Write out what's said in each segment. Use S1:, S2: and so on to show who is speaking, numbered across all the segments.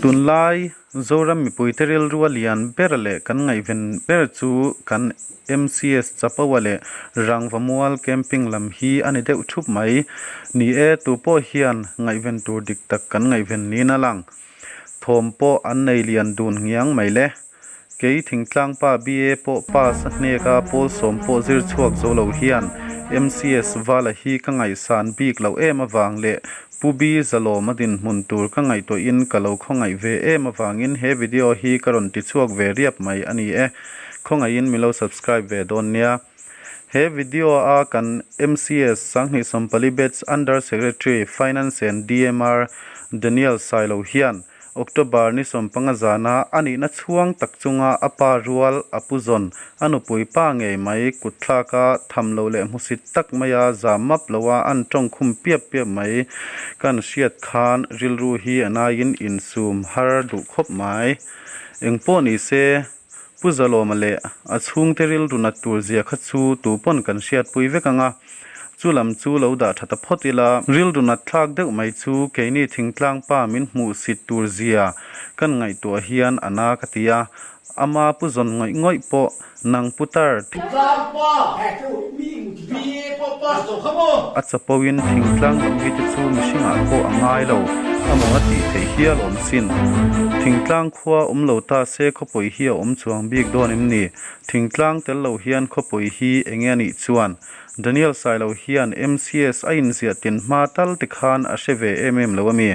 S1: Tunlai Zoram mipuite rilrua lian bera leh kan ngaihven ber chu kan MCS Chapoua leh Rangvamual Camping lam hi a ni deuh thup mai ni e, tu pawh hian ngaihven tur dik tak kan ngaihven niin a lang. Thawm pawh an nei lian dun ngiang mai le. Kei Thingtlangpa BA pawh pass a hnek a, Paul Sawm pawh zir chhuak zo lo hian MCS vala hi ka ngaihsan bik loh em avang leh Pu Bi Zalawm a dinhmun tur ka ngaihtuahin ka lo khawngaih ve em avangin he video hi ka rawn ti chhuak ve riap mai a ni e. Khawngaihin min lo subscribe ve dawn nia. He video a kan MCS Sanghnihsawmpali Batch Under Secretary Finance and DMR Daniel Sailo hian October ni sawm panga zana a nihna chhuang tak chunga a pa rual, a pu zawn, a nupui pa ngei mai kut thlak a tham lo leh hmusit tak mai a zam map lo a an tawng khum piap piap mai. Ka an hriat khan rilru hi a naiin insum har duh khawp mai. Engpawh nise Pu Zalawma leh a chhungte rilru nat tur zia kha chu tu pawn kan hriatpui vek ang a, chu lam chu lo dah tha ta phawt ila, rilru nat thlak deuh mai chu keini thingtlang pa min hmuh sit tur zia kan ngaihtuah hian a na ka ti a, ama pu zawn ngawih ngawih pawh nang putar tih. Thingtlang pa he chu mi in A chapo in thing tlang lam hi te chu mihring ah pawh a ngai lo a maw a tih theih hial awm chin. Thing tlang khua awm lo ta se khawpawih hi a awm chuang bik dawn em ni? Thing tlang tel lo hian khawpawih hi enge a nih chuan? Daniel Sailo hian MCS a in ziah tin hma tal te khan a hre ve em em lo a mi?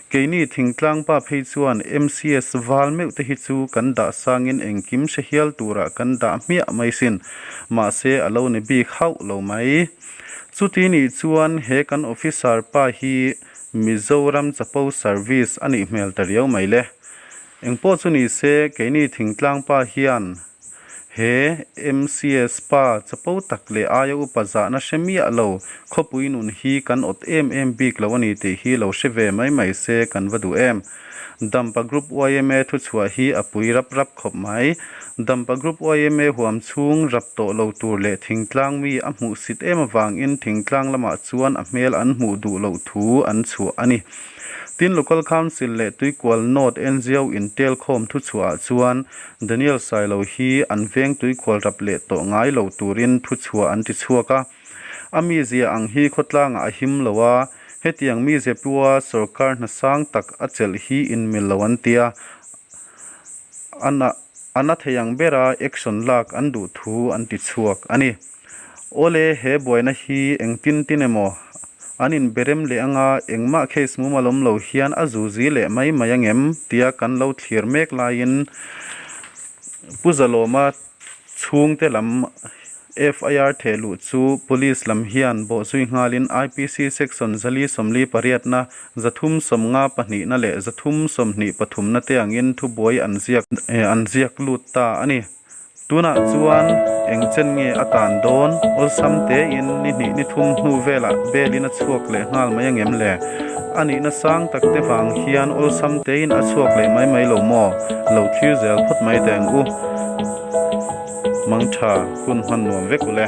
S1: Kei ni thing tlang pa phei chuan MCS val meuh te hi chu kan dah sang in engkim hre hial tur ah kan dah hmiah mai sin. mahse a lo ni bik hauh lo mai. Chuti nih chuan he kan officer pa hi Mizoram chapo service a nih hmel ta riau mai le. Engpawh chu ni se keini Thingtlang pa hian he MCS pa chapo tak leh aia upa zahna hre miah lo khawpui nun hi kan awt em em bik lo a ni tih hi lo hre ve mai mai se kan va duh em. Dampa Group yma thu chhuah hi a pui rap rap khawp mai. Dampa Group yma huam chhung rap tawh lo tur leh thingtlang mi a hmuh sit em avangin thingtlang lamah chuan a hmel an hmuh duh loh thu an chhuah a ni. Tin, Local Council leh Tuikual North NGO intelkhawm thu chhuahah chuan Daniel Sailo hi an veng tuikual rap leh tawh ngai lo turin thu chhuah an ti chhuak a. A mizia ang hi khawtlangah a him lo a, hetiang mizia pua sorkar hnasang tak a chelh hi inmil lo an tia, a na a na thei ang bera action lak an duh thu an ti chhuak a ni. Awle he buaina hi engtin tin emaw? An inberem leh anga engmah case mum a lawm lo hian a zu zi leh mai mai angem tia kan lo thlir mek laiin Pu Zalawma Chhungte lam FIR thehluh chu Police lam hian bawhzui nghalin IPC Section zali sawmli pariatna, zathum sawmnga pahnihna leh zathum sawmhnih pathumna te angin thubuai an ziak an ziak lut ta a ni. Tunah chuan eng chen nge a tan dawn? Awlsam tein ni hnih ni thum hnu velah belin a chhuak leh nghal mai angem le? A nihna sang takte vang hian awlsam tein a chhuak leh mai mai lo maw? Lo thlir zel phawt mai teh ang u. Mangtha hun hman nuam vek ule.